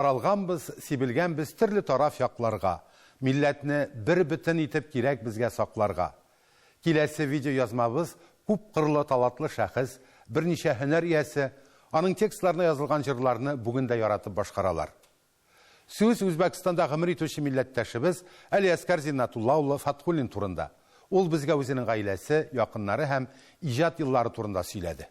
Таралганбыз, сибелгәнбез төрле тараф якларга, милләтне бер бөтен итеп кирәк безгә сакларга. Киләсе видеоязмабыз күп кырлы талатлы шәхес, берничә һөнәр иясе, аның текстларына язылган җырларны бүген дә яратып башкаралар. Сүз Үзбәкстанда гомер итүче милләттәшебез Әлиәскар Зиннатулла улы Фатхуллин турында. Ул безгә үзенең гаиләсе, якыннары һәм иҗат еллары турында сөйләде.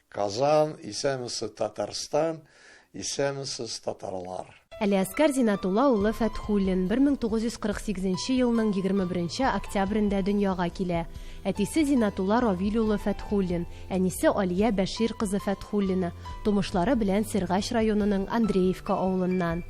Казан, исәнмесез Татарстан, исәнмесез татарлар. Әлиәскар Зинатулла улы Фәтхуллин 1948 елның 21 октябрендә дөньяга килә. Әтисе Зинатулла Равил улы Фәтхуллин, әнисе Алия Бәшир кызы Фәтхуллина, тумышлары белән Сергач районының Андреевка авылыннан.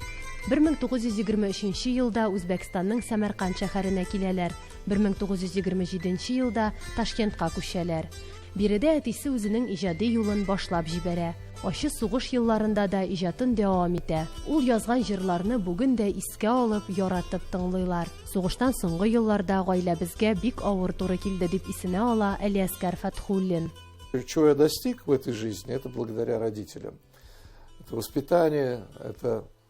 1923 елда Үзбәкстанның Сәмәрканд шәһәренә киләләр, 1927 елда Ташкентка күчәләр. Биредә әтисе үзенең иҗади юлын башлап җибәрә. Ачы сугыш елларында да иҗатын дәвам итә. Ул язган җырларны бүген дә искә алып, яратып тыңлыйлар. Сугыштан соңгы елларда гаиләбезгә бик авыр туры килде, дип исенә ала Әлиәскар Фәтхуллин. Чего я достиг в этой жизни, это благодаря родителям. Это воспитание, это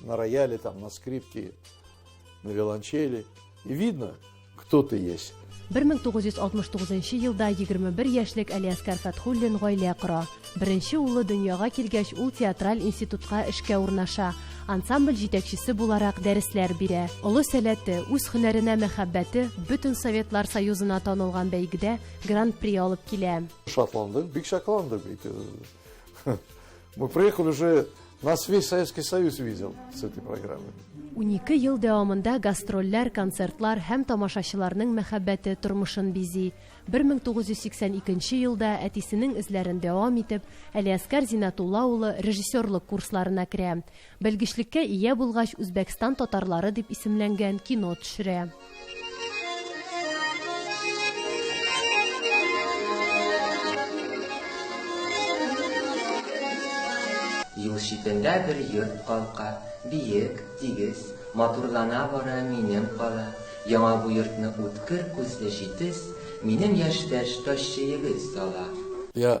на рояле, там, на скрипке, на виолончели. И видно, кто ты есть. 1969 елда 21 яшьлек Алиаскар Фатхуллин гаилә кора. Беренче улы дөньяга килгәч, ул театраль институтка эшкә урнаша. Ансамбль җитәкчесе буларак дәресләр бирә. Олы сәләте, үз һөнәренә мәхәббәте бөтен Советлар Союзына танылган бәйгедә гран-при алып килә. Шатландык, бик шатландык. Мы приехали уже, нас весь Советский Союз видел с этой программой. Унике ел дәвамында гастрольләр, концертлар һәм тамашачыларның мәхәббәте тормышын бизи. 1982 елда әтисенең эзләрен дәвам итеп, Әлиәскар Зинатулла улы режиссерлык курсларына керә. Белгечлеккә ия булгач, Үзбәкстан татарлары дип исемләнгән кино төшерә. Юл читендә бер йорт калка, Биек, тигез, матурлана бара минем кала. Яңа бу йортны үткер күзле җитез, Минем яшьтәш ташчы егет сала. Я